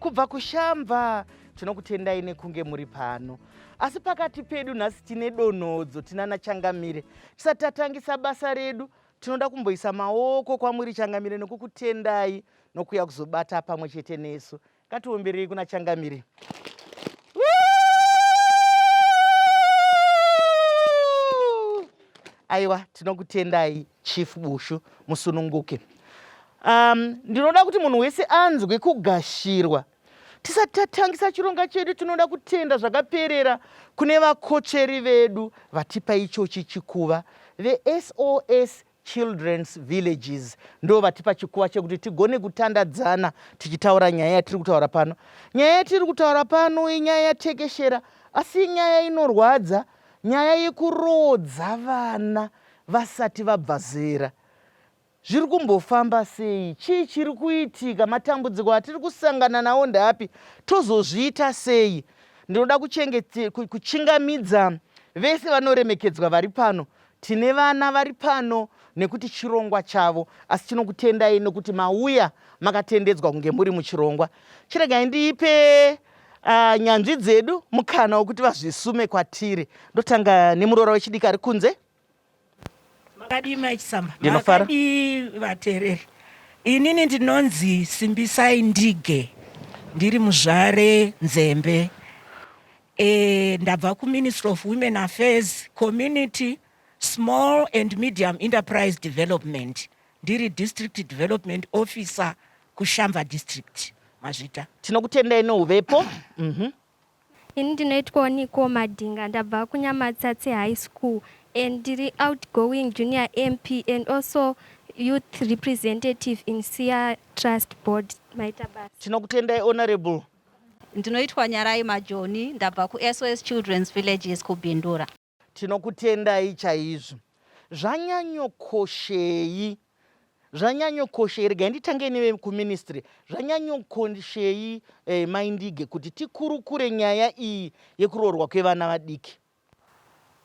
Kubva kuShamva tinokutendai nekunge muri pano. Asi pakati pedu nhasi tine donhodzo tinana Changamire. Tisati tatangisa basa redu tinoda kumboisa maoko kwamuri Changamire nokukutendai nokuya kuzobata pamwe chete nesu. Ngatiomberei kuna Changamire. Aiwa tinokutendai. Chief Bushu musununguke. Um, ndinoda kuti munhu wese anzwe kugashirwa tisati tatangisa chironga chedu tinoda kutenda zvakaperera kune vakotsveri vedu vatipa ichochi chikuva vesos children's villages ndo vatipa chikuva chekuti tigone kutandadzana tichitaura nyaya yatiri kutaura pano nyaya yatiri kutaura pano inyaya yatekeshera asi inyaya inorwadza nyaya yekuroodza vana vasati vabva zera. Zviri kumbofamba sei? Chii chiri kuitika? Matambudziko atiri kusangana nawo ndeapi? Tozozviita sei? Ndinoda kuchingamidza vese vanoremekedzwa vari pano. Tine vana vari pano nekuti chirongwa chavo, asi tinokutendai nokuti mauya makatendedzwa kunge muri muchirongwa. Chiregai ndiipe uh, nyanzvi dzedu mukana wokuti vazvisume kwatiri. Ndotanga nemuroora wechidiki ari kunze. makadii mai chisamba Ndinofara. makadii vateereri inini ndinonzi simbisai ndige ndiri muzvare nzembe e, ndabva kuministry of women affairs community small and medium enterprise development ndiri district development officer kushamba district mazvita Tinokutendai neuvepo. Mhm. Ini ndinoitwawo Nicole Madinga ndabva kuNyamatsatse High School and ndiri outgoing junior MP and also youth representative in Siya Trust Board. Maita basa. Tinokutendai Honourable. Ndinoitwa Nyarai Majoni ndabva kuSOS Children's Villages kuBindura. Tinokutendai chaizvo. Zvanyanyokoshei. Zvanyanyokoshei. Regai nditange neve kuministry. Zvanyanyokoshei eh, Mai Ndige kuti tikurukure nyaya iyi yekuroorwa kwevana vadiki.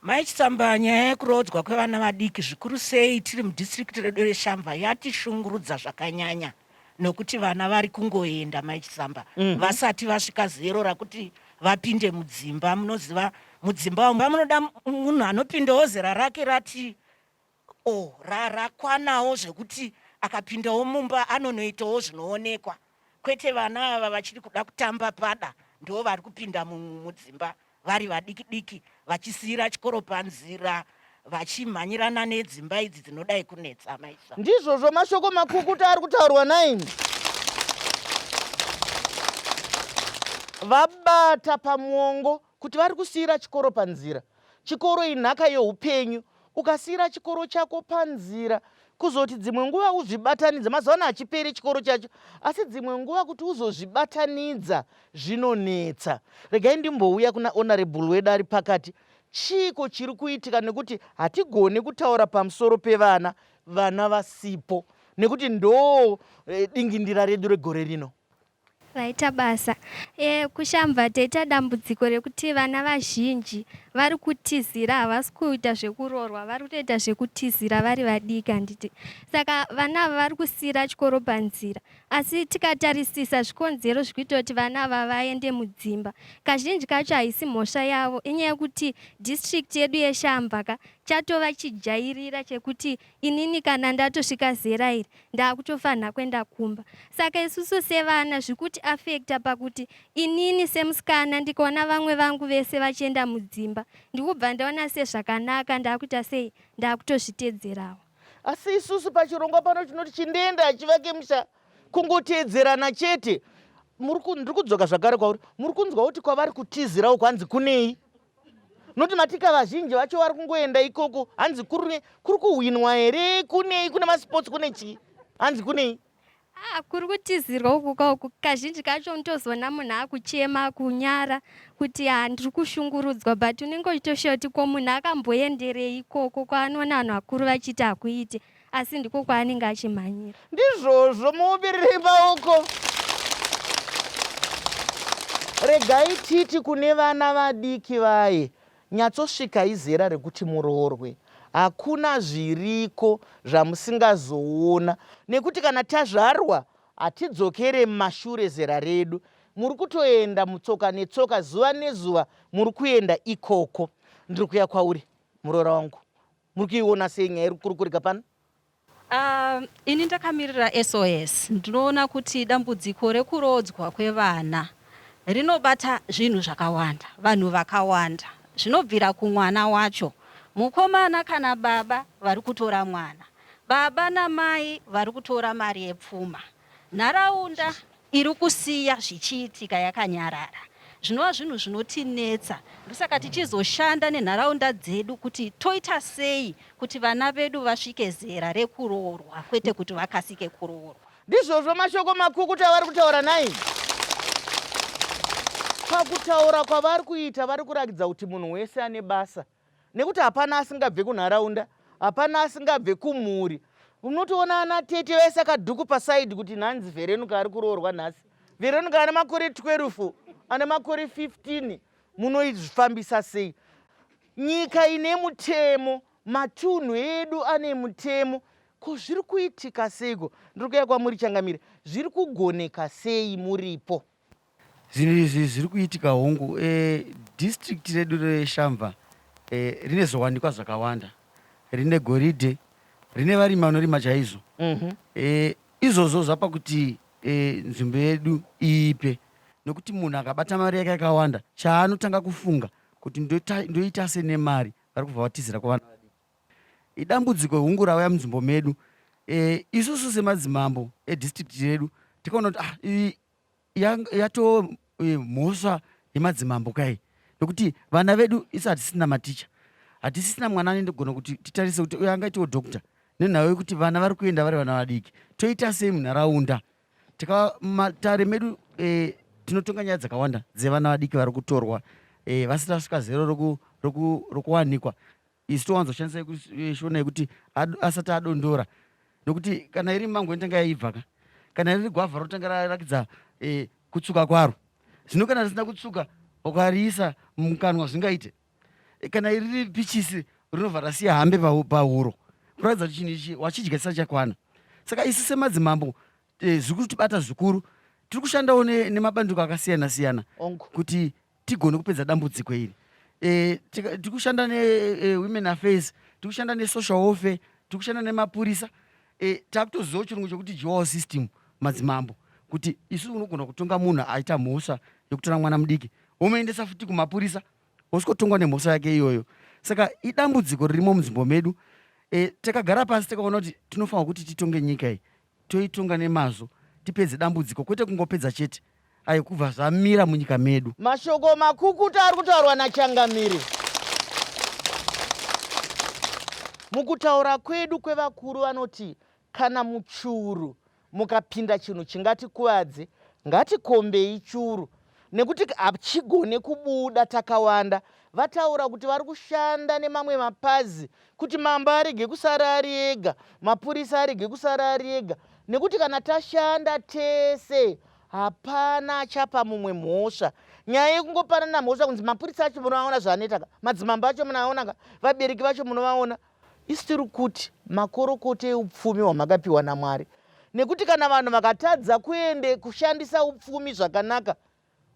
Mai Chitsamba, nyaya yekuroodzwa kwevana vadiki zvikuru sei tiri mudistrict redu reShamva yatishungurudza zvakanyanya. nokuti vana vari kungoenda mai chisamba mm -hmm. vasati vasvika zero rakuti vapinde mudzimba munoziva mudzimba wamba munoda munhu anopindawo zera rake rati o oh, rarakwanawo zvekuti akapindawo mumba anonoitawo zvinoonekwa kwete vana ava vachiri kuda kutamba pada ndo vari kupinda mudzimba mu, vari vadiki diki vachisiira chikoro panzira vachimhanyirana nedzimba idzi dzinodai kunetsa maisa ndizvozvo mashoko makukuta ari kutaurwa naini vabata pamuongo kuti vari kusiira chikoro panzira chikoro inhaka yeupenyu ukasiira chikoro chako panzira kuzoti dzimwe nguva uzvibatanidza mazuva ano hachiperi chikoro chacho asi dzimwe nguva kuti uzozvibatanidza zvinonetsa regai ndimbouya kuna honorable wedu ari pakati chiiko chiri kuitika nekuti hatigone kutaura pamusoro pevana vana vasipo nekuti ndoo eh, dingindira redu regore rino Vaita basa. E, kuShamva taita dambudziko rekuti vana vazhinji vari kutizira havasi kuita zvekuroorwa vari kutoita zvekutizira vari vadiki handiti saka vana ava vari kusiira chikoro panzira asi tikatarisisa zvikonzero zviri kuita kuti vana ava vaende mudzimba kazhinji kacho haisi mhosva yavo inyaya yekuti district yedu yeshamva ka chatova chijairira chekuti Inini kana ndatosvika zera iri ndakutofanha kwenda kumba saka isusu sevana zvikuti affecta pakuti inini semusikana ndikaona vamwe vangu vese vachienda mudzimba ndikubva ndaona sezvakanaka ndakuita sei ndakutozvitedzerawo. Asi isusu pachirongwa pano tinoti chindienda hachivake musha kungotedzerana chete. Ndiri kudzoka zvakare kwauri muri kunzwa kuti kwavari kutizirawo kwanzi kunei? noti matika vazhinji vacho vari kungoenda ikoko hanzi kuri kuhwinwa here kunei kune masports kune chii hanzi kunei ah, kuri kutizirwa uku kauku kazhinji kacho unotozoona munhu akuchema kunyara kuti ha ah, ndiri kushungurudzwa but unenge uchitoshiya kuti ko munhu akamboenderei ikoko kwaanoona vanhu vakuru vachiti hakuite asi ndiko kwaanenge achimhanyira ndizvozvo muubirire maoko regai titi kune vana vadiki vaye nyatsosvika izera rekuti muroorwe hakuna zviriko zvamusingazoona nekuti kana tazvarwa hatidzokere mumashure zera redu muri kutoenda mutsoka netsoka zuva nezuva muri kuenda ikoko ndiri kuya kwauri muroora wangu Muri kuiona sei nyaya iri kukurukurika pano? Uh, ini ndakamirira SOS ndinoona kuti dambudziko rekuroodzwa kwevana rinobata zvinhu zvakawanda vanhu vakawanda zvinobvira kumwana wacho mukomana kana baba vari kutora mwana baba namai vari kutora mari yepfuma Nharaunda iri kusiya zvichiitika yakanyarara zvinova zvinhu zvinotinetsa ndosaka tichizoshanda nenharaunda dzedu kuti toita sei kuti vana vedu vasvike zera rekuroorwa kwete kuti vakasike kuroorwa. Ndizvozvo mashoko makukutu avari kutaura nai. Pakutaura kwavari kuita vari kurakidza kuti munhu wese ane basa nekuti hapana asingabve kunharaunda hapana asingabve kumhuri unotoona ana tete vese akadhuku pasaidi kuti nhanzi verenuka ari kuroorwa nhasi verenuka ane makore 12 ane makore 15 munoizvifambisa sei nyika ine mutemo matunhu edu ane mutemo ko zviri kuitika seiko ndiri kuya kwamuri changamire zviri kugoneka sei muripo Zvinhu izvi zviri kuitika hongu e, district redu reShamva e, rine zviwanikwa zvakawanda. Rine goridhe, rine varimi vanorima chaizvo. Mm -hmm. e, izvozvo zvapa kuti e, nzvimbo yedu iipe nokuti munhu akabata mari yake yakawanda chaanotanga kufunga kuti ndoita, ndoita se nemari vari kubva vatizira kuvana vadiki. Idambudziko hungu rauya munzvimbo medu e, isusu semadzimambo edistrict redu tikaona kuti ah, yatoo e, mhosva yemadzimambo kai nokuti vana vedu isu hatisina maticha hatisisina mwana anendogona kuti titarise kuti uyo angaitiwo doctor nenhau yekuti vana vari kuenda vari vana vadiki toita sei munharaunda tikamatare medu e, tinotonga nyaya dzakawanda dzevana vadiki vari kutorwa e, vasina svika zero rokuwanikwa isu towanzo shandisa yekushona yekuti asati adondora nokuti kana iri mango inotanga yaibva ka kana riri gwavha rotanga rarakidza e, kutsuka kwaro zvino kana risina kutsuka ukariisa mukanwa zvingaite e, kana iriri pichisi rinobva rasiya hambe pahuro kuratidza kuti chinhu ichi wachidya chisati chakwana saka isu semadzimambo e, zviri kutibata zvikuru tiri kushandawo nemabandiko akasiyana siyana kuti tigone kupedza dambudziko iri e, tikushanda newomen e, affairs tikushanda nesocial warfare tikushanda nemapurisa e, takutoziva chirungu chekuti jual system madzimambo kuti isu unogona kutonga munhu aita mhosva yekutora mwana mudiki womuendesa futi kumapurisa wosvikotongwa nemhosva yake iyoyo saka idambudziko ririmo munzvimbo medu e, takagara pasi takaona kuti tinofanira kuti titonge nyika iyi toitonga nemazvo tipedze dambudziko kwete kungopedza chete ayo kubva zvamira munyika medu. Mashoko makukuta ari kutaurwa naChangamire. Mukutaura kwedu kwevakuru vanoti kana muchuru mukapinda chinhu chingatikuvadze, ngatikombei churu nekuti hachigone kubuda takawanda vataura kuti vari kushanda nemamwe mapazi kuti mambo arege kusara ari ega mapurisa arege kusara ari ega nekuti kana tashanda tese hapana achapa mumwe mhosva nyaya yekungopanana mhosva kunzi mapurisa acho munoaona zvaanetaka madzimambo acho munoaonaka vabereki vacho munovaona Isu tiri kuti makorokotei upfumi hwamakapiwa naMwari nekuti kana vanhu vakatadza kuende kushandisa upfumi zvakanaka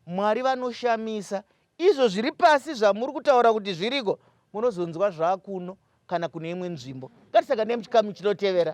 Mwari vanoshamisa. Izvo zviri pasi zvamuri kutaura kuti zviriko munozonzwa zvakuno kana kune imwe nzvimbo. Ngatisaka nemuchikamu chinotevera.